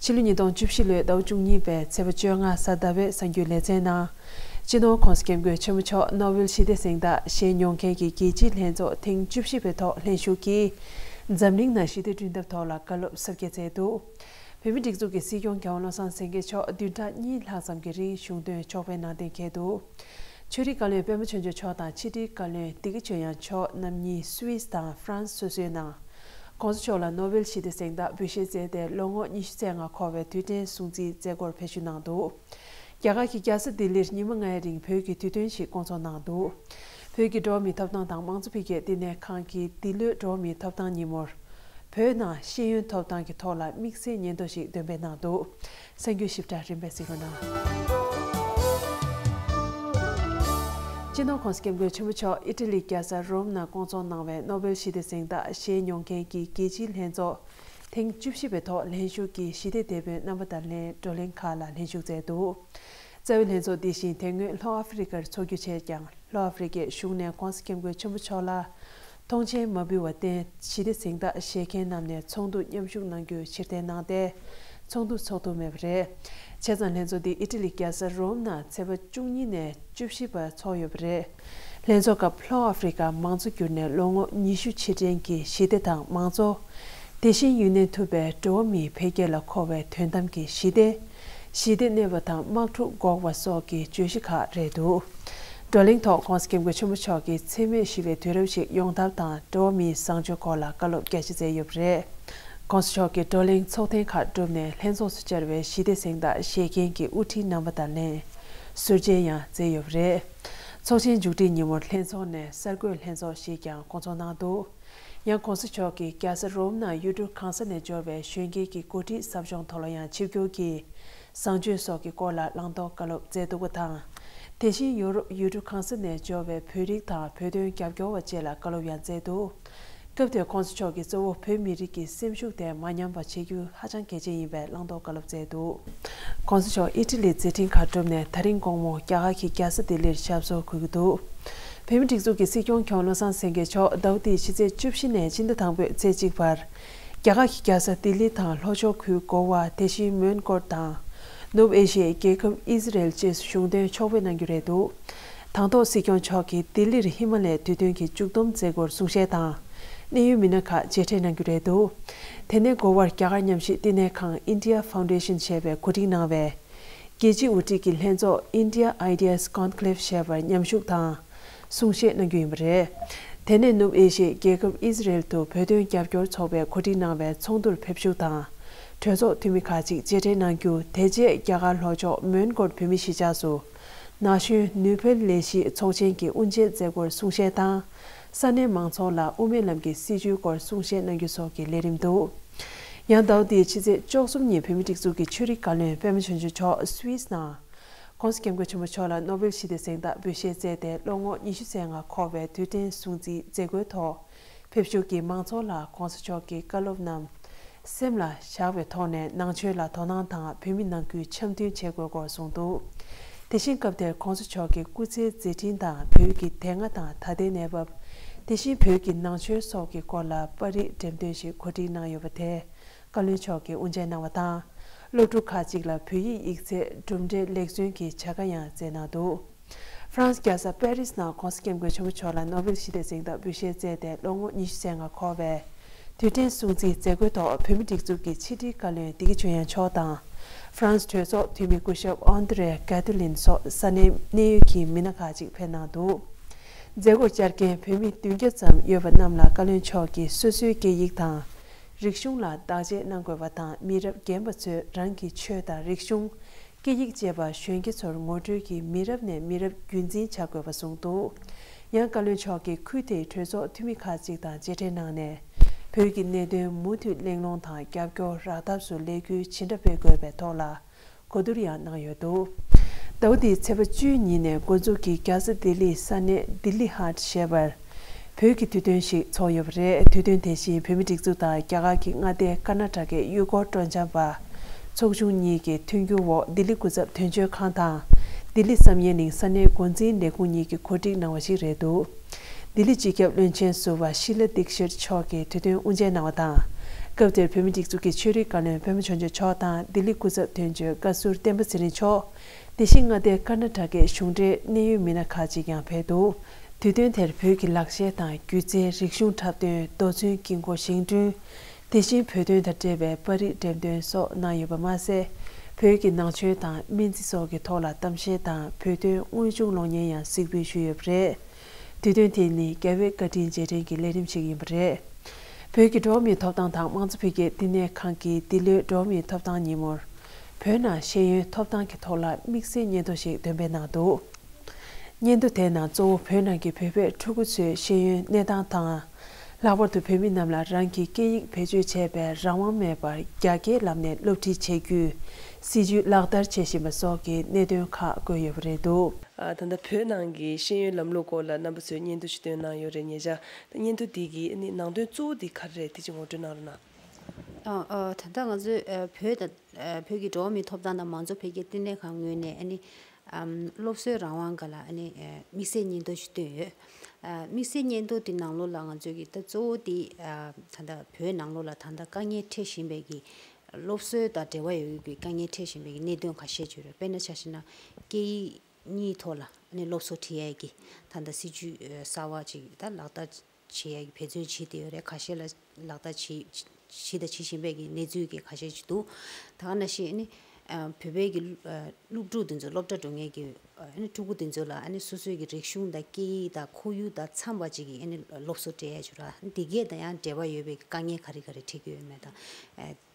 ཕྱི་ལོ་ཉིས་སྟོང་བཅུ་བཞི་ལོའི་ཟླ་བ་བཅུ་གཉིས་པའི་ཚེས་པ་བཅོ་ལྔ་གཟའ་ཟླ་བའི་གསར་འགྱུར་ལེ་ཚན་ནང། སྤྱི་ནོར་ཁོངས་སུ་སྐྱབས་མགོན་ཆེན་མོ་མཆོག་ནོ་བྷེལ་ཞི་བདེ་གཟེངས་རྟགས་བཞེས་མྱོང་མཁན་གྱི་རྒྱལ་སྤྱིའི་ལྷན་ཚོགས་ཐེངས་བཅུ་བཞི་པའི་ཐོག་ལྷན་ཞུགས་ཀྱིས། འཛམ་གླིང་ནང་ཞི་བདེ་བསྐྲུན་ཐབས་ཐོག་ལ་བཀའ་སློབ་གསར་བརྒྱད་སྩལ་འདུག་བོད་མིའི་སྒྲིག་འཛུགས་ཀྱི་སྲིད་སྐྱོང་གོང་བློ་བཟང་སེང་གེ་མཆོག་བདུན་ཕྲག་གཉིས་ལྷག་ཙམ་གྱི་རིང་གཞུང་དོན་ཕྱོགས་པའི་ནང་གཏན་འཁེལ་དུ། ཆོས་རིག་བཀའ་བློན་པད་མ་ཆོས་འབྱོར་མཆོག་དང་ཕྱི་དྲིལ་བཀའ་བློན་སྡེ་དགེ་ཆོས་དབྱངས་མཆོག་རྣམ་གཉིས་སུ་ཝིས་དང་ཧྥ་རན་སོ་སོའི་ནང། ྋགོང་ས་མཆོག་ལ་ནོ་བེལ་ཞི་བདེ་གཟེངས་རྟགས་འབུལ་བཞེས་མཛད་དེ་ལོ་ངོ་ཉི་ཤུ་ཚད་ལྔ་འཁོར་བའི་དུས་དྲན་སྲུང་བརྩིའི་མཛད་སྒོར་ཕེབས་ཞུ་གནང་འདུག་རྒྱ་གར་གྱི་རྒྱལ་ས་ལྡི་ལིར་ཉིན་མོ་ལྔའི་རིང་བོད་ཀྱི་དུས་སྟོན་ཞིག་བསྐོང་ཚོགས་གནང་འདུག་བོད་ཀྱི་འགྲོ་བ་མིའི་ཐོབ་ཐང་དང་དམངས་གཙོ་འཕེལ་རྒྱས་བསྟི་གནས་ཁང་གིས་འདི་ལོའི་འགྲོ་བ་མིའི་ཐོབ་ཐང་ཉིན་མོར། བོད་ནང་ཤེས་ཡོན་ཐོབ་ཐང་གི་ཐོག་ལ་དམིགས་བསལ་སྙན་ཐོ་ཞིག་འདོན་སྤེལ་གནང་འདུག་སེམས་རྒྱུད་ཞིབ་ཕྲ་རིམ་པས་གཟིགས་རོགས་གནང། སྤྱི་ནོར་ཁོང་སྐྱབས་མགོན་ཆེན་པོ་མཆོག་ཨི་ཏི་ལི་རྒྱལ་ས་རོམ་ན་སྐོང་འཚོགས་གནང་བའི་ནོ་བེལ་ཞི་བདེ་གཟེངས་རྟགས་བཞེས་མྱོང་མཁན་གྱི་རྒྱལ་སྤྱིའི་ལྷན་ཚོགས་ཐེངས་བཅུ་བཞི་པའི་ཐོག་ལྷན་ཞུགས་ཀྱིས་ཞི་བདེ་དེད་པོའི་རྣམ་པ་དང་ལྷན་བགྲོ་གླེང་ཁག་ལ་ལྷན་ཞུགས་མཛད་འདུག་རྩ་བའི་ལྷན་ཚོགས་འདི་བཞིན་དེ་སྔོན་ལྷོ་ཨ་ཧྥི་རི་ཀར་འཚོགས་རྒྱུ་བྱས་ཀྱང་ལྷོ་ཨ་ཧྥི་རི་ཀའི་གཞུང་ནས་ཁོང་སྐྱབས་མགོན་ཆེན་པོ་མཆོག་ལ་ཐོངས་མཆན་མ་འབུལ་བར་བརྟེན་ཞི་བདེ་གཟེངས་རྟགས་བཞེས་མཁན་རྣམས་ནས་ཚོགས་འདུར་མཉམ་ཞུགས་གནང་རྒྱུའི་ཕྱིར་འཐེན་གནང་སྟེ། ཚོགས་འདུ་འཚོགས་ཐུབ་མེད་པ་རེད། བྱས་ཙང་ལྷན་ཚོགས་འདི་ཨི་ཏི་ལི་རྒྱལ་ས་རོམ་ན་ཚེས་པ་བཅུ་གཉིས་ནས་བཅུ་བཞི་བར་འཚོགས་ཡོད་པ་རེད། ལྷན་ཚོགས་སྐབས་ལྷོ་ཨ་ཧྥི་རི་ཀ་མང་གཙོ་གྱུར་ནས་ལོ་ངོ་ཉི་ཤུ་ཕྱིར་དྲན་གྱི་ཞི་བདེ་དང་མང་གཙོ། དེ་བཞིན་ཡུན་གནས་ཐུབ་པའི་འགྲོ་བ་མིའི་འཕེལ་རྒྱས་ལ་མཁོ་བའི་དོན་དམ་གྱི་ཞི་བདེ། ཞི་བདེ་གནས་པ་དང་དམག་འཁྲུག་འགོག་པ་སོགས་ཀྱི་བརྗོད་གཞི་ཁག་རེད་འདུག་བགྲོ་གླེང་ཐོག་ཁོང་སྐྱབས་མགོན་ཆེན་པོ་མཆོག་གིས་འཚེ་མེད་ཞི་བའི་དུས་རབས་ཤིག་ཡོང་ཐབས་དང་འགྲོ་བ་མིའི་བཟང་སྤྱོད་སྐོར་ལ་བཀའ་སློབ་རྒྱ་ཆེ་སྩལ་ཡོད་པ་རེད། ཁོང་མཆོག་གིས་བགྲོ་གླེང་ཚོགས་ཐེངས་ཁག་གྲུབ་ནས་ལྷན་ཚོགས་སུ་བཅར་བའི་ཞི་བདེ་གཟེངས་རྟགས་བཞེས་མཁན་གྱི་དབུ་ཁྲིད་རྣམ་པ་དང་ལེན་ཟུར་མཇལ་ཡང་མཛད་ཡོད་པ་རེད། ཚོགས་ཆེན་མཇུག་སྒྲིལ་ཉིན་མོར་ལྷན་ཚོགས་ནས་གསར་འགོད་ལྷན་ཚོགས་ཤིག་ཀྱང་སྐོང་ཚོགས་གནང་འདུག། ཡང ྋགོང་ས་མཆོག་གིས་རྒྱལ་ས་རོ་ཝུམ་ནང་ཡུལ་གྲུ་གང་ས་ནས་འབྱོར་བའི་གཞོན་སྐྱེས་ཀྱི་འགོ་ཁྲིད་ཟབ་སྦྱོང་ཐོག་ལ་ཡང་ཆིབས་སྒྱུར་གྱིས་བཟང་སྤྱོད་སོགས་ཀྱི་སྐོར་ལ་བླང་དོར་བཀའ་སློབ་སྩལ་འདུག་པ་དང། དེ་བཞིན་ཡོ་རོབ་ཡུལ་གྲུ་གང་ས་ནས་འབྱོར་བའི་བོད་རིགས་དང་བོད་དོན་རྒྱབ་སྐྱོར་བ་བཅས་ལ་བཀའ་སློབ་ཡང་སྩལ་འདུག་སྐབས་དེར ྋགོང་ས་མཆོག་གིས་གཙོ་བོ་བོད་མི་རིགས་ཀྱི་སེམས་ཤུགས་དེ་མ་ཉམས་པ་བྱེད་རྒྱུ་ཧ་ཅང་གལ་ཆེན་ཡིན་པའི་བླང་དོར་བཀའ་སློབ་སྩལ་འདུག ྋགོང་ས་མཆོག་ཨི་ཏི་ལི་མཛད་འཕྲིན་ཁག་གྲུབ་ནས་ད་རིང་དགོང་མོ་རྒྱ་གར་གྱི་རྒྱལ་ས་ལྡི་ལིར་ཆབ་སོར་འཁོད་ཀྱི་འདུག་བོད་མིའི་སྒྲིག་འཛུགས་ཀྱི་སྲིད་སྐྱོང་མཁྱོང་བློ་བཟང་སེང་གེ་མཆོག་ཟླ་བོ་འདིའི་ཕྱི་ཚེས་བཅུ་བཞི་ནས་སྤྱི་ཟླ་དང་པོའི་ཚེས་གཅིག་བར། རྒྱ་གར་གྱི་རྒྱལ་ས་ལྡི་ལི་དང་ལྷོ་ཕྱོགས་ཁུལ་གོ་བ་དེ་བཞིན་མོན་གྷོ་དང། ནུབ་ཨེ་ཤི་ཡའི་རྒྱལ་ཁབ་ཨི་ཟི་རེལ་བཅས་སུ་གཞུང་དོན་ཕྱོགས་ཕེབས་གནང་རྒྱུ་རེད་འདུག་དང་ཐོག་སྲིད་སྐྱོང་མཆོག་གིས་ལྡི་ལིར་ཧི་མ་ལའི་དུས་སྟོན་གྱི་མཇུག་བསྡོམས་མཛད་སྒོར་གསུང་བཤད་དང། གནད་ཡོད་མི་སྣ་ཁག་མཇལ་འཕྲད་གནང་རྒྱུ་རེད་འདུག་དེ་ནས་འགོ་བར་རྒྱ་གར་ཉམས་ཞིབ་བསྟི་གནས་ཁང India Foundation ཞེས་པའི་གོ་སྒྲིག་གནང་བའི་རྒྱལ་སྤྱིའི་དབུ་ཁྲིད་ཀྱི་ལྷན་ཚོགས India Ideas Conclave བྱ་བར་མཉམ་ཞུགས་དང་གསུང་བཤད་གནང་རྒྱུ་ཡིན་པ་རེད། དེ་ནས་ནུབ་ཨེ་ཤེ་ཡའི་རྒྱལ་ཁབ་ཨི་ཟི་རེལ་དུ་བོད་དོན་རྒྱབ་སྐྱོར་ཚོགས་པས་གོ་སྒྲིག་གནང་བའི་ཚོགས་འདུར་ཕེབས་ཞུགས་དང་གྲོས་ཚོགས་འཐུས་མི་ཁག་ཅིག་གཅེས་སྤྲས་གནང་རྒྱུ་དེ་རྗེས་རྒྱ་གར་ལྷོ་ཕྱོགས་མོན་གྷོར་བོད་མི་གཞིས་ཆགས་སུ་ན་གཞོན་ནུས་བོད་ལས་གཞི་ཚོགས་ཆེན་གྱི་དབུ་འབྱེད་མཛད་སྒོར་གསུང་བཤད་དང་ས་གནས་མང་ཚོགས་ལ་དབུ་མའི་ལམ་གྱི་སྲིད་བྱུས་སྐོར་གསུང་བཤད་གནང་རྒྱུ་སོགས་ཀྱི་ལས་རིམ་འདུག་ཡང་ཟླ་བ་འདིའི་ཕྱི་ཚེས་བཅོ་གསུམ་ཉིན་བོད་མི་སྒྲིག་འཛུགས་ཀྱི་ཆོས་རིག་བཀའ་བློན་པད་མ་ཆོས་འབྱུང་མཆོག Swiss ནང་ཁོང་སྐྱབས་མགོན་ཆེན་པོ་མཆོག་ལ་ནོ་བེལ་ཞི་བདེ་གཟེངས་རྟགས་འབུལ་བཞེས་མཛད་དེ་ལོ་ངོ་ཉི་ཤུ་ཟད་ལྔ་འཁོར་བའི་དུས་དྲན་སྲུང་བརྩིའི་མཛད་སྒོའི་ཐོག་ཕེབས་བཞུགས་ཀྱིས་མང་ཚོགས་ལ་གོང་ས་མཆོག་གི་བཀའ་སློབ་རྣམས་སེམས་ལ་བཞག་པའི་ཐོག་ནས་ནང་ཆོས་ལ་དོ་སྣང་དང་བོད་མི་ནང་ཁུལ་འཆམ་མཐུན་བྱེད་དགོས་སྐོར་གསུངས་འདུག་དེ་བཞིན་སྐབས་དེར ྋགོང་ས་མཆོག་གི་སྐུ་ཚེའི་མཛད་འཕྲིན་དང་བོད་ཀྱི་དེ་སྔ་དང་ད་ལྟའི་གནས་བབ། དེ་བཞིན་བོད་ཀྱི་ནང་ཆོས་སོགས་ཀྱི་སྐོར་ལ་པར་རིས་འགྲེམས་སྟོན་ཞིག་གོ་སྒྲིག་གནང་ཡོད་པ་དེར་བཀའ་བློན་མཆོག་གིས་དབུ་འབྱེད་གནང་བ་དང། སློབ་ཕྲུག་ཁག་ཅིག་ལ་བོད་ཡིག་ཡིག་ཚད་གྲུབ་འབྲས་ལེགས་བརྩོན་གྱི་བྱ་དགའ་ཡང་སྩལ་གནང་འདུག། ཧྥ་རན་སི་རྒྱལ་ས་པེ་རི་སི་ནང་ཁོང་སྐྱབས་མགོན་ཆེན་པོ་མཆོག་ལ་ནོ་བེལ་ཞི་བདེ་གཟེངས་རྟགས་འབུལ་བཞེས་མཛད་དེ་ལོ་ངོ་ཉི་ཤུ་ཟད་ལྔ་འཁོར་བའི་དུས་དྲན་སྲུང་བརྩིའི་མཛད་སྒོའི་ཐོག་བོད་མི་སྒྲིག་འཛུགས་ཀྱི་ཕྱི་དྲིལ་བཀའ་བློན་བདེ་སྐྱིད་ཆོས་དབྱངས་མཆོག་དང་ཧྥ་རན་སི་གྲོས་ཚོགས་འཐུས་མི་སྐུ་ཞབས་ཨོན་ཏི་རེ་གྷ་ཏི་ལིན་སོགས་ས་གནས་གནས་ཡུལ་གྱི་མི་སྣ་ཁག་ཅིག་ཕེབས་གནང་འདུག་མཛད་སྒོར་བཅར་མཁན་བོད་མི་བདུན་བརྒྱ་ཙམ་ཡོད་པ་རྣམས་ལ་བཀའ་བློན་མཆོག་གིས་སོ་སོའི་སྐད་ཡིག་དང་རིག་གཞུང་ལ་བདག་གཅེས་གནང་དགོས་པ་དང་མི་རབས་རྒན་པ་ཚོས་རང་གི་ཆོས་དང་རིག་གཞུང། སྐད་ཡིག་བཅས་པ་གཞོན་སྐྱེས་ཚོར་ངོ་སྤྲོད་ཀྱིས་མི་རབས་ནས་མི་རབས་རྒྱུན་འཛིན་བྱ་དགོས་པ་གསུངས་འདུག་ཡང་བཀའ་བློན་མཆོག་གིས་ཁུལ་དེའི་གྲོས་ཚོགས་འཐུས་མི་ཁག་ཅིག་དང་མཇལ་འཕྲད་གནང་ནས་བོད་ཀྱི་གནད་དོན་མུ་མཐུད་གླེང་སློང་དང་རྒྱབ་སྐྱོར་རག་ཐབས་སུ་ལས་འགུལ་ཇི་འདྲ་སྤེལ་དགོས་པའི་ཐོག་ལ་གོ་བསྡུར་ཡང་གནང་ཡོད་འདུག་ཟླ་བ་འདིའི་ཚེས་པ་བཅུའི་ཉིན་ནས་འགོ་འཛུགས་ཀྱིས་རྒྱ་བཟའ་ལྡི་ལི་ས་གནས Dili Haat ཞེས་པར། བོད་ཀྱི་དུས་སྟོན་ཞིག་ཚོགས་ཡོད་པ་རེད་དུས་སྟོན་དེ་བཞིན་བོད་མི་སྒྲིག་འཛུགས་དང་རྒྱ་གར་གྱི་མངའ་སྡེ་ཀར་ན་ཏྲ་ཀའི་གཡུལ་སྐོར་སྤྲོ་འཆམ་པ། ཚོགས་ཆུང་གཉིས་ཀྱི་མཐུན་འགྱུར་འོག་ལྡི་ལི་སྐུ་ཚབ་དོན་གཅོད་ཁང་དང་ལྡི་ལི་བསམ་ཡས་གླིང་ས་གནས་འགོ་འཛིན་ལས་ཁུངས་གཉིས་ཀྱིས་གོ་སྒྲིག་གནང་བ་ཞིག་རེད་འདུག་ལྡི་ལི་སྤྱི་ཁྱབ་བློན་ཆེན་ཟུར་བ་ཤི་ལ་ལྡིག་ཤིར་མཆོག་གིས་དུས་སྟོན་དབུ་འབྱེད་གནང་བ་དང། སྐབས་དེར་བོད་མི་སྒྲིག་འཛུགས་ཀྱི་ཆོས་རིག་བཀའ་བློན་བོན་པོ་བྱང་ཆུབ་མཆོག་དང་ལྡི་ལི་སྐུ་ཚབ་དོན་གཅོད་བཀའ་ཟུར་བསྟན་པ་ཚེ་རིང་མཆོག་དེ་བཞིན་མངའ་སྡེ་ཀར་ནཱ་ཀྲ་ཀའི་གཞུང་འབྲེལ་གནད་ཡོད་མི་སྣ་ཁག་ཅིག་ཡང་ཕེབས་འདུག་དུས་སྟོན་དེར་བོད་ཀྱི་ལག་ཤེས་དང་སྒྱུ་རྩལ་རིག་གཞུང་འཁྲབ་སྟོན་རྡོ་བཙུན་དཀྱིལ་འཁོར་བཞེངས་བསྐྲུན། དེ་བཞིན་བོད་དོན་དང་འབྲེལ་བའི་པར་རིས་འགྲེམས་སྟོན་སོགས་གནང་ཡོད་པ་མ་ཟད། བོད་ཀྱི་ནང་ཆོས་དང་སྨན་རྩིས་སོགས་ཀྱི་ཐོག་ལ་གཏམ་བཤད་དང་བོད་དོན་དངོས་བྱུང་གློག་བརྙན་ཡང་གཟིགས་འབུལ་ཞུས་ཡོད་པ་རེད། དུས་སྟོན་དེ་ནི་རྒྱ་བོད་བཀའ་དྲིན་རྗེས་དྲན་གྱི་ལས་རིམ་ཞིག་ཡིན་པ་རེད། བོད་ཀྱི་འགྲོ་བ་མིའི་ཐོབ་ཐང་དང་དམངས་གཙོ་འཕེལ་རྒྱས་བསྟི་གནས་ཁང་གིས་འདི་ལོའི་འགྲོ་བ་མིའི་ཐོབ་ཐང་ཉིན་མོར། བོད་ནང་ཤེས་ཡོན་ཐོབ་ཐང་གི་ཐོག་ལ་དམིགས་བསལ་སྙན་ཐོ་ཞིག་འདོན་སྤེལ་གནང་འདུག་སྙན་ཐོ་དེའི་ནང་གཙོ་བོ་བོད་ནང་གི་བོད་པའི་ཕྲུ་གུ་ཚོའི་ཤེས་ཡོན་གནས་སྟངས་དང། ལྷག་པར་དུ་བོད་མི་རྣམས་ལ་རང་གི་སྐད་ཡིག་བེད་སྤྱོད་བྱས་པའི་རང་དབང་མེད་པར་རྒྱ་སྐྱེད་ལམ་ནས་སློབ་ཁྲིད་བྱེད་རྒྱུའི་སྲིད་ཇུས་ལག་བསྟར་བྱེད་བཞིན་པ་སོགས་ཀྱི་གནད་དོན་ཁག་བཀོད་ཡོད་པ་རེད་འདུག། ད་ལྟ་བོད་ནང་གི་ཤེས་ཡོན་ལམ་ལུགས་སྐོར་ལ་རྣམ་པ་ཚོས་སྙན་ཐོ་ཞིག་བཏོན་གནང་ཡོད་རེད་ཉེ་ཆར། ད་སྙན་ཐོ་འདི་གི་ནང་དོན་གཙོ་བོ་འདི་ག་རེ་རེད་དེ་གཅིག་ངོ་སྤྲོད་གནང་རོགས་གནང། ད་ལྟ་ང་ཚོས་བོད་དང་བོད་ཀྱི་འགྲོ་བ་མིའི་ཐོབ་ཐང་དང་མང་གཙོ་འཕེལ་རྒྱས་བསྟི་གནས་ཁང་ངོས་ནས་སློབ་གསོའི་རང་དབང་འགའ་ལ་དམིགས་བསལ་སྙན་ཐོ་ཞིག་བཏོན་ཡོད། དམིགས་བསལ་སྙན་ཐོ་དེ་ནང་ལོགས་ལ་ང་ཚོས་ཀྱི་ད་གཙོ་བོ་དེ་ད་ལྟ་བོད་ནང་ལོགས་ལ་ད་ལྟ་དཀའ་ངལ་འཕྲད་བཞིན་པའི་ཀྱི་སློབ་གསོའི་དང་འབྲེལ་བ་ཡོད་ཀྱི་དཀའ་ངལ་འཕྲད་བཞིན་པའི་ཀྱི་གནད་དོན་ཁ་ཤས་བརྗོད་ཡོད། དཔེར་ན་ཆ་ཤས་ན་སྐད་ཡིག་གཉིས་ཐོག་ལ་སློབ་གསོ་ཁྲིད་ཡས་ཀྱི་ད་ལྟ་སྲིད་ཇུས་གསར་བ་ཅིག་ད་ལག་བསྟར་ཆེ་ཡ་གི་བེད་སྤྱོད་བྱེད་བདེ་བའི་རེ་ཁ་ཤས་ལ་ལག་བསྟར་བྱས། བྱེད་དང་བྱེད་བཞིན་པའི་གི་གནས་ཚུལ་གི་ཁ་ཤས་ཤིག་འདུག་ད་ག་ན་ཞིག་ནི། བོད་པའི་གི། སློབ་ཕྲུག་དེ་ཚོ་སློབ་གྲྭ་འགྲོ་ངེས་ཀྱི། ཕྲུ་གུ་དེ་ཚོ་ལ་ནི་སོ་སོའི་གི་རིག་གཞུང་དང་སྐད་ཡིག་དང་ཁོར་ཡུག་དང་འཚམ་པ་ཅིག་གི་ནི་སློབ་གསོ་སྤྲད་ཡ་ཆུ་ར། དེ་གས་དང་ཡང་འབྲེལ་བ་ཡོད་པའི་གི་དཀའ་ངལ་ག་རི་ག་རི་འཕྲད་ཀྱི་ཡོད་མེད་དང།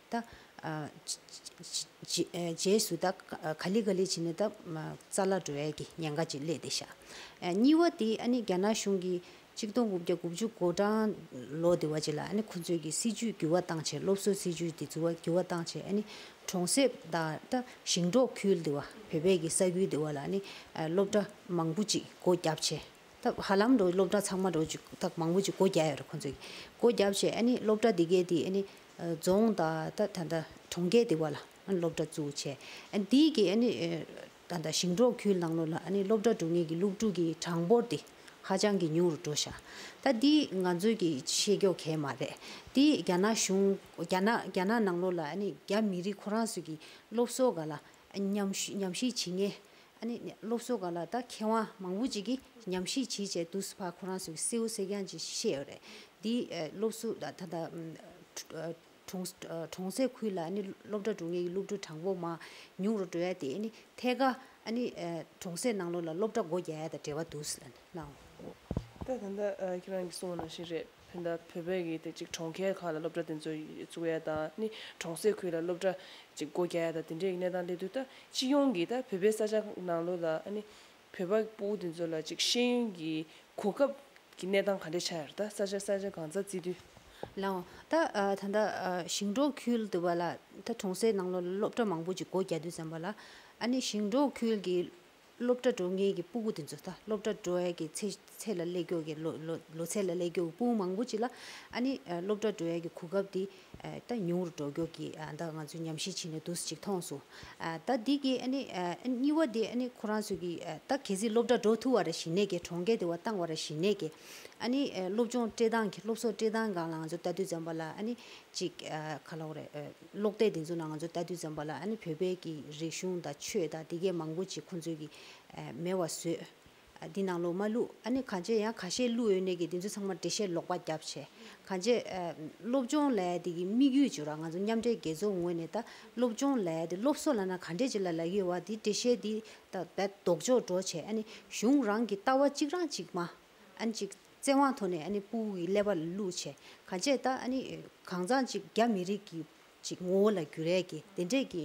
རྗེས་སུ་ག་ལི་ག་ལི་བྱས་ནས་རྩ་ལག་འགྲོལ་བས་ཀྱི་ཉེན་ཁ་ཅིག་སླེབས་ཏེ་བཞག། གཉིས་བ་དེ་རྒྱ་ནག་གཞུང་གིས་གཅིག་སྟོང་དགུ་བརྒྱ་དགུ་བཅུ་གོ་གྲངས་ལོ་དེ་བ་ཅིག་ལ་ཁོ་ཚོས་ཀྱི་སྲིད་ཇུས་འགྱུར་བ་བཏང་ཆེད་སློབ་གསོའི་སྲིད་ཇུས་དེ་འགྱུར་བ་བཏང་ཆེད་གྲོང་གསེབ་དང་ཞིང་འབྲོག་ཁུལ་དེ་བ་བོད་པའི་ས་ཁུལ་དེ་བ་ལ་སློབ་གྲྭ་མང་པོ་ཅིག་སྒོ་བརྒྱབ་ཆེད། ཐབས་ཧ་ལམ་འགྲོ་སློབ་གྲྭ་ཚང་མ་འགྲོ་ཅིག་ཐག་མང་པོ་ཅིག་སྒོ་རྒྱག་ཡོད་རེད་ཁོང་ཚོས་སྒོ་རྒྱབ་བྱས་ཨ་ནི་སློབ་གྲྭ་འདི་གའི་དེ་ཨ་ནི་རྫོང་དང་ད་ད་གྲོང་ཁྱེར་དེ་བ་ལ་ཨ་ནི་སློབ་གྲྭ་བཙུགས་བྱས་ཨ་དེའི་གི་ཨ་ནི་ད་ད་ཞིང་འབྲོག་ཁུལ་ནང་ལོ་ལ་ཨ་ནི་སློབ་གྲྭ་འགྲོ་ངེས་ཀྱི་སློབ་ཕྲུག་གི་གྲངས་འབོར་དེ་ཧ་ཅང་གི་ཉུང་རུ་འགྲོ་ཤག་ད་དེ་ང་ཚོའི་གི་ཤེས་ཀྱོག་གས་མ་རེད་དེ་རྒྱ་ནག་གཞུང་རྒྱ་ནག་རྒྱ་ནག་ནང་ལོ་ལ་ཨ་ནི་རྒྱ་མི་རིགས་ཁོ་རང་ཚོས་གི་སློབ་གསོ་ག་ལ་ཉམས་ཞིབ་བྱེད་ངེས་ཨ་ནི་སློབ་གསོ་ག་ལ་ད་མཁས་དབང་མང་པོ་ཅིག་གིས་ཉམས་ཞིབ་བྱིས་བྱས་དུ་སུ་ཕ་ཁོ་རང་ཚོ་གི་སེའུ་སེ་རྐྱང་ཅིག་ཤི་ཤེས་ཡོད་རེད་འདི་སློབ་གསོ་ད་ད་གྲོང་གསེབ་ཁུལ་ལ་ཨ་ནི་སློབ་གྲྭ་འགྲོ་ངེས་ཀྱི་སློབ་ཕྲུག་གྲངས་པོ་མང་ཉུང་རུ་འགྲོ་ཡ་དེ་ཨ་ནི་ཐད་ཀ་ཨ་ནི་གྲོང་གསེབ་ནང་ལོགས་ལ་སློབ་གྲྭ་སྒོ་རྒྱག་ཡ་དང་འབྲེལ་བ་འདུག་ལ་ཨོ། ད་ད་ཁྱེད་རང་གིས་གསུང་བ་ནང་བཞིན་རེད། ཕན་བདག་བོད་པའི་གིས་དེ་གཅིག་གྲོང་ཁྱེར་ཁག་ལ་སློབ་གྲྭ་དེ་ཚོ་བཙུགས་ཡ་དང་ནི་གྲོང་སྲས་ཁུལ་ལ་སློབ་གྲྭ་གཅིག་སྒོ་རྒྱག་ཡ་དང་དེ་འདྲའི་གནས་སྟངས་སླེབས་དུས་ད་སྤྱི་ཡོངས་ཀྱིས་ད་བོད་པའི་ས་ཆ་ནང་ལོ་ལ་ཨ་ནི་བོད་པ་པོ་དེ་ཚོ་ལ་གཅིག་ཤེས་ཡོན་གྱི་གོ་སྐབས་ཀྱི་གནས་སྟངས་ག་འདྲས་ཆགས་ཡོད་རེད་ད་ས་ཆ་ས་ཆ་གང་ཚ་བརྩི་དུས། ལའང་ད་ད་ལྟ་ཞིང་འབྲོག་ཁུལ་དུ་བ་ལ་ད་གྲོང་སྲས་ནང་ལོ་ལ་སློབ་གྲྭ་མང་པོ་གཅིག་སྒོ་རྒྱག་དུས་ཙམ་བ་ལ་ཨ་ནི་ཞིང་འབྲོག་ཁུལ་གྱི་སློབ་གྲྭ་འགྲོ་མཁན་གྱི་སྤུ་གུ་དེ་ཚོ་ད་སློབ་གྲྭ་འགྲོ་ཡ་གི་ཚེ་ཚད་ལ་སླེབས་འགྱོ་གི་ལོ་ལོ་ལོ་ཚད་ལ་སླེབས་འགྱོ་གི་སྤུན་མང་པོ་ཅིག་ལ་ཨ་ནི་སློབ་གྲྭ་འགྲོ་ཡ་གི་གོ་སྐབས་དེ་ད་ཉུང་རུ་འགྲོ་འགྱོ་གི་ད་ང་ཚོས་ཉམས་ཞིབ་བྱེད་ནས་འདུག་ཅིག་མཐོང་སོང། ད་འདི་གི་ཨ་ནི་གཉིས་བ་དེ་ཨ་ནི་ཁོ་རང་ཚོ་གི་ད་གལ་སྲིད་སློབ་གྲྭ་འགྲོ་ཐུབ་བ་རེ་ཞིག་ནས་གི་གྲོང་སྐད་དེ་བ་བཏང་བ་རེ་ཞིག་ནས་གི་ཨ་ནི་སློབ་སྦྱོང་སྤྲེལ་སྟངས་ཀྱི་སློབ་གསོ་སྤྲེལ་སྟངས་གང་ལ་ང་ཚོ་ལྟ་དུས་ཙམ་པ་ལ་ཨ་ནི་ཅིག་ག་ལ་འོ་རེད། ཀློག་སྟེགས་འདི་ཚོ་ནང་ང་ཚོ་ལྟ་དུས་འཛོམས་པ་ལ་བོད་པའི་གི་རིག་གཞུང་དང་ཆོས་དང་དེ་གས་མང་པོ་ཅིག་ཁོང་ཚོས་གི་མེད་བ་བཟོས། འདི་ནང་ལོག་མ་བླུག་ཨ་ནི་གང་ཅེས་ཡང་ག་ཤེད་བླུག་ཡོད་ནས་གི་འདི་ཚོ་ཚང་མ་འབྲེལ་བཤད་ལོག་པ་རྒྱབ་བྱས། གང་ཅེས་སློབ་སྦྱོང་ལས་དེ་གི་དམིགས་ཡུལ་བྱུ་ར་ང་ཚོ་མཉམ་འབྲེལ་རྒྱལ་ཚོགས་ངོས་ནས་ད་སློབ་སྦྱོང་ལས་དེ་སློབ་གསོ་ལ་ན་ག་འདྲེ་ཅིག་ལ་ལག་ཡོད་བ་དེ་འབྲེལ་བཤད་དེ་ད་བད་ལྡོག་འཇོག་འགྲོ་བྱས་ཨ་ནི་གཞུང་རང་གི་ལྟ་བ་གཅིག་རང་གཅིག་མ། ཨ་ཅིག། བཙན་དབང་ཐོག་ནས་སྤུའུ་ཡི་ཀླད་པ་ལ་བསླུ་བྱས། ག་བྱས་ད། གང་ཟག་ཅིག་རྒྱ་མི་རིགས་ཀྱི་ཅིག་ངོ་བོ་ལ་འགྱུར་རལ་གྱི་དེ་འདྲས་ཀྱི་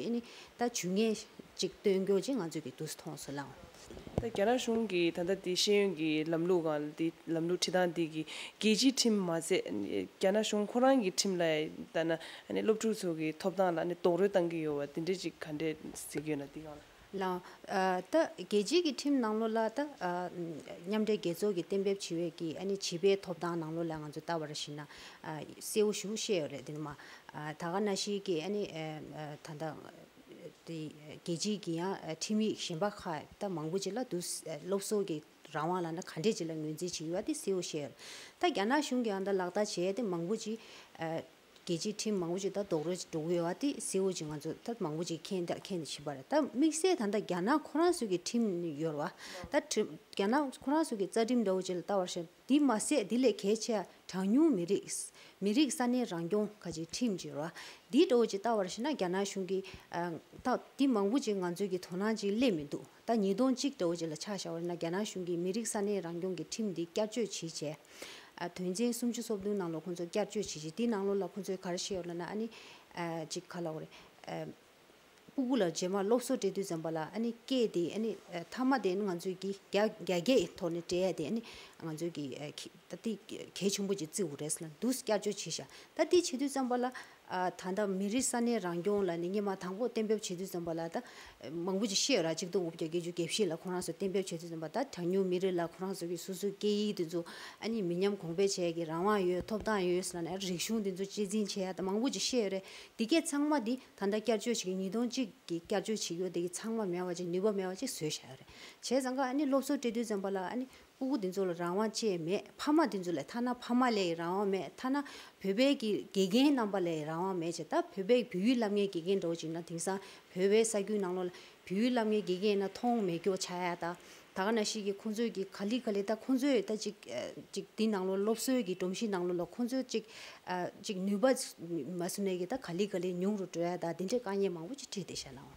ད་ཇུས་ངན་ཅིག་སྟོན་རྒྱོ་ཅིག་ང་ཚོས་ཀྱི་དུས་སུ་མཐོང་སོ་ལངས། ད་རྒྱ་ནག་གཞུང་གི་ད་ལྟ་དེ་ཤེས་ཡོན་གྱི་ལམ་ལུགས་གང་ལ་དེ་ལམ་ལུགས་ཁྲི་སྟངས་དེ་གི་རྒྱལ་སྤྱིའི་ཁྲིམས་མ་ཟད་རྒྱ་ནག་གཞུང་ཁོ་རང་གི་ཁྲིམས་ལ་ད་ན་སློབ་ཕྲུག་ཚོ་གི་ཐོབ་ཐང་ལ་ནི་རྡོག་རོལ་བཏང་གི་ཡོ་བ་དེ་འདྲས་ཅིག་ག་འདྲས་ཟེར་གྱོ་ན་དེ་གང་ལ། ལ། ད་རྒྱལ་སྤྱིའི་གི་ཁྲིམས་ནང་ལོ་ལ་ད། མཉམ་འབྲེལ་རྒྱལ་ཚོགས་ཀྱི་གཏན་འབེབས་བྱེད་འོས་ཀྱི་ཨ་ནི་བྱིས་པའི་ཐོབ་ཐང་ནང་ལོ་ལ་ང་ཚོ་ལྟ་བ་ར་ཤི་ན། གསལ་བོ་ཞུ་ཤེས་ཡོད་རེད་དེ་ནི་མ། ད་ག་ན་ཤི་གི་ཨ་ནི། ད་ལྟ། དེ་རྒྱལ་སྤྱིའི་གི་ཡང་ཁྲིམས་ཡིག་གཞན་པ་ཁ་ད་མང་པོ་ཅི་ལ་འདུག་སློབ་གསོ་གི་རང་དབང་ལ་ན་ག་འདྲེ་ཅི་ལ་ངོས་འཛིན་བྱེད་ཡོད་ཨ་དེ་གསལ་བོ་ཤེས་ཡོད་རེད། ད་རྒྱ་ནག་གཞུང་གི་ཡང་ད་ལག་བསྟར་བྱེད་ཨ་དེ་མང་པོ་ཅི། རྒྱལ་སྤྱིའི་ཁྲིམས་མང་པོ་ཅིག་ད་རྡོག་རོལ་ཅིག་འགྲོ་གི་ཡོད་བ་དེ་སེའུ་ཅིག་ང་ཚོ་ད་མང་པོ་ཅིག་མཁྱེན་ད་མཁྱེན་ད་བྱེད་པར་ད་དམིགས་བསལ་ད་ད་རྒྱ་ནག་ཁོ་རང་སུ་གི་ཁྲིམས་ཡོར་བ། ད་རྒྱ་ནག་ཁོ་རང་སུ་གི་རྩ་ཁྲིམས་འདྲ་བོ་ཅིག་ལ་ལྟ་བར་བྱ། དེ་མ་ཟད་དེ་ལས་གལ་ཆེ་བ་གྲངས་ཉུང་མི་རིགས། མི་རིགས་ས་གནས་རང་སྐྱོང་ཁ་ཅིག་ཁྲིམས་ཅིག་ཡོར་བ། དེ་འདྲ་བོ་ཅིག་ལྟ་བར་བྱེད་ན་རྒྱ་ནག་གཞུང་གིས། ད་དེ་མང་པོ་ཅིག་ང་ཚོའི་གི་དོ་སྣང་ཅིག་སླེབས་མི་འདུག་ཟླ་གཉིས་སྟོང་གཅིག་ལྟ་བུ་ཅིག་ལ་ཆགས་བཞག་འོད་ན་རྒྱ་ནག་གཞུང་གིས་མི་རིགས་ས་གནས་རང་སྐྱོང་གི་ཁྲིམས་འདི་བསྐྱར་བཅོས་བྱེད་ཆེད། དོན་ཚན་སུམ་ཅུ་སོ་བདུན་ནང་ལོག་ཁོང་ཚོ་བསྐྱར་བཅོས་བྱེད་ཆེད་དེའི་ནང་ལོག་ལ་ཁོང་ཚོས་ག་རེ་བཤད་ཡོད་ལ་ན་ཨ་ནི། གཅིག་ག་ལ་འོ་རེད། སྤུ་གུ་ལ་རྗེས་མར་སློབ་གསོ་སྤྲད་དུས་ཙམ་པ་ལ་ཨ་ནི་སྐད་དེ་ཨ་ནི་མཐའ་མ་དེ་ཨ་ནི་ང་ཚོས་ཀྱི་རྒྱ་རྒྱ་སྐད་ཐོག་ནས་སྤྲད་ཡ་དེ་ཨ་ནི་ང་ཚོས་ཀྱི་ད་ལྟའི་གལ་ཆེན་པོ་ཅིག་བརྩི་འོ་རེད་ཟེར་ན་འདུག་བསྐྱར་བཅོས་བྱེད་བཞག་ད་ལྟའི་བྱེད་དུས་ཙམ་པ་ལ། ད་ལྟ་མི་རིགས་ས་གནས་རང་སྐྱོང་ལ་ནི་སྙེ་མ་དང་པོ་གཏན་འབེབས་བྱེད་དུས་ཙམ་པ་ལ་ད་མང་པོ་ཅིག་ཤེས་ར་གཅིག་སྟོང་དགུ་བརྒྱ་བརྒྱད་ཅུ་བརྒྱད་བཞི་ལ་ཁོང་རང་ཚོ་གཏན་འབེབས་བྱེད་དུས་ཙམ་པ་ད་གྲངས་ཉུང་མི་རིགས་ལ་ཁོང་རང་ཚོ་གི་སོ་སོའི་སྐད་ཡིག་དེ་ཚོ་ཨ་ནི་མི་ཉམས་གོང་འཕེལ་བྱས་ཀྱི་རང་དབང་ཡོད་ཐོབ་ཐང་ཡོད་ས་ནས་རིག་གཞུང་དེ་ཚོ་གཅེས་འཛིན་བྱེད་ཡ་ད་མང་པོ་ཅིག་ཤེས་རེད་དེ་སྐད་ཚང་མ་དེ་ད་ལྟ་བསྐྱར་བཅོས་བྱེད་ཀྱི་ཉིས་སྟོང་གཅིག་གི་བསྐྱར་བཅོས་བྱེད་ཡོ་དེ་གི་ཚང་མ་མེད་བ་ཅིག་ནུས་པ་མེད་བ་ཅིག་བཟོས་བཞག་ཡོ་རེད་བྱས་ཙང་ཀ་ཨ་ནི་སློབ་གསོ་སྤྲད་དུས་ཙམ་པ་ལ་ཨ་ནི་སྤུ་གུ་འདི་ཚོ་ལ་རང་དབང་ཅེས་མེད་ཕ་མ་འདི་ཚོ་ལས་ཐ་ན་ཕ་མ་ལས་ཡི་རང་དབང་མེད་ཐ་ན་བོད་པའི་གི་དགེ་རྒན་རྣམ་པ་ལས་ཡི་རང་དབང་མེད་ཅེས་ད་བོད་པའི་བོད་ཡུལ་བསླབ་ངའི་དགེ་རྒན་འགྲོ་ཅིག་ན་དེང་སང་བོད་པའི་ས་རྒྱུས་ནང་ལོག་ལ་བོད་ཡུལ་བསླབ་ངའི་དགེ་རྒན་ཡིན་ན་མཐོང་མེད་སྐྱོ་ཆ་ཡ་ད་ད་ག་ན་ཞིག་གི་ཁོང་ཚོས་གི་ག་ལི་ག་ལི་ད་ཁོང་ཚོས་ད་ཅིག་ཅིག་འདི་ནང་ལོག་སློབ་གསོའི་གི་སྒྲོམ་གཞི་ནང་ལོག་ལ་ཁོང་ཚོས་ཅིག་ཅིག་ནུས་པ་མ་བསུ་ནས་གི་ད་ག་ལི་ག་ལི་ཉུང་རུ་འགྲོ་ཡ་ད་འདི་འདྲའི་དཀའ་ཉེན་མང་པོ་ཅིག་ཁྲིད་དེ་ཤ་ནའོ།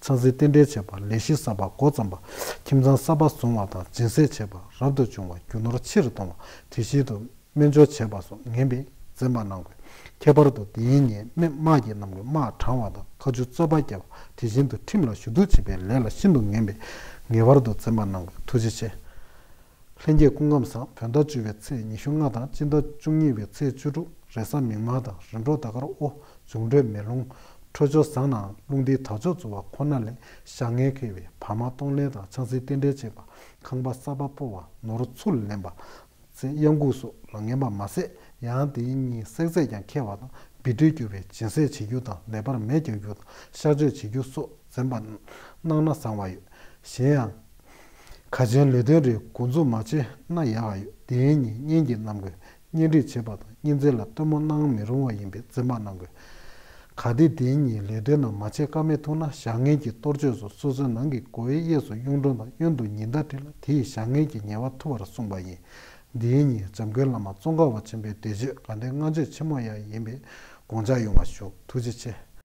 ཚང་ཚིང་རྟེན་འབྲེལ་བྱེད་པ། ལས་གཞི་གསར་པ་འགོ་བརྩམས་པ། ཁྱིམ་ཚང་གསར་པ་བཟུང་བ་དང་སྦྱིན་སྲེག་བྱེད་པ་རབ་ཏུ་བྱུང་བ་རྒྱུ་ནོར་ཕྱིར་གཏོང་བ་དུས་བཞིན་དུ་སྨན་སྦྱོར་བྱེད་པ་སོགས་ངན་པས་འཛེམ་པ་གནང་དགོས། ཁྱད་པར་དུ་དེའི་ཉེས་དམིགས་དམག་རྒྱལ་རྣམས་ཀྱི་དམག་དྲངས་བ་དང་ཁ་མཆུ་རྩོད་པ་བརྒྱབ་པ་དེ་བཞིན་དུ་ཁྲིམས་ལ་ཞུ་གཏུག་བྱེད་པའི་ལས་ལ་ཤིན་ཏུ་ངན་པས་ངེས་པར་དུ་འཛེམ་པ་གནང་དགོས་ཐུགས་རྗེ་ཆེ། ལྷན་རྒྱས་སྐུ་ཁམས་བཟང་བོད་ཟླ་བཅུ་བའི་ཚེས་ཉི་ཤུ་ལྔ་དང་སྤྱི་ཟླ་བཅུ་གཉིས་པའི་ཚེས་བཅུ་དྲུག་རེས་གཟའ་མིག་དམར་དང་རིམ་གྲོ་ཟླ་སྐར་དབོ་འཛུགས་འགྲོས་མེད་ལུང་འཕྲོད་ཅུང་བཟང་ནའང་ལུང་འདིའི་དག་ཆོག་རྫོགས་བ་ཁོ་ན་ལས་ཞག་ངལ་ཁེལ་བས་བར་མ་གཏོང་ལེན་དང་ཆང་སྲིན་རྟེན་འབྲེལ་བཅས་པ་ཁང་པ་གསར་པ་སྤོ་བ་ནོར་འཚུབ་ལེན་པ། ཚེ་གཡང་འགུགས་སོགས་ལ་ངན་པ་མ་ཟད་ཡང་དེའི་གཉིས་བསྲེག་རྫས་ཀྱང་ཁྱེར་བ་དང་སྦིར་སྦྲུལ་རྒྱུ་བའི་སྦྱིན་སྲེག་བྱེད་རྒྱུ་དང་ལས་པར་མེ་རྒྱག་རྒྱུ་དང་གཤག་བཅོས་བྱེད་རྒྱུ་སོགས་འཛེམ་པ་གནང་ན་བཟང་བ་ཡོད། གཞན་ཡང། ཁ་ཆེན་ལུས་སྟོན་རེའི་འགོ་འཛུགས་མ་བྱས་ན་ཡག་ཨ་ཡོད་དེ་ཡིན་ཉིན་གཉེན་གྱི་རྣམ་དགོས་གཉེན་སྒྲིག་བྱེད་པ་དང་གཉེན་ཚན་ལ་སྟོན་མོ་གནང་མི་རུང་བ་ཡིན་པས་འཛིན་པ་གནང་དགོས་ག་དེ་དེ་ཉིན་ལུས་སྟོན་རྣམས་མ་བྱས་ཀ་མེད་ཐུག་ན་བཞག་ངན་གྱི་གཏོར་ཆོས་སུ་སོ་སོའི་ནང་གི་སྒོ་བའི་གཡས་སུ་གཡུང་དྲུང་དང་གཡོན་དུ་ཉི་ཟླ་བྲིས་ལ་དེ་ཡིས་བཞག་ངན་གྱི་ཉེས་བ་ཐུབ་པར་གསུངས་པ་ཡིན་དེ་ཡིན་ཉིན་འཇམ་མགོན་བླ་མ་ཙོང་ཁ་བ་ཆེན་པོའི་འདས་མཆོད་དགའ་ལྡན་སྔ་མཆོད་ཆེན་མོ་ཡང་ཡིན་པས་དགོངས་འཇགས་ཡོང་བ་ཞུ་ཐུགས་རྗེ་ཆེ།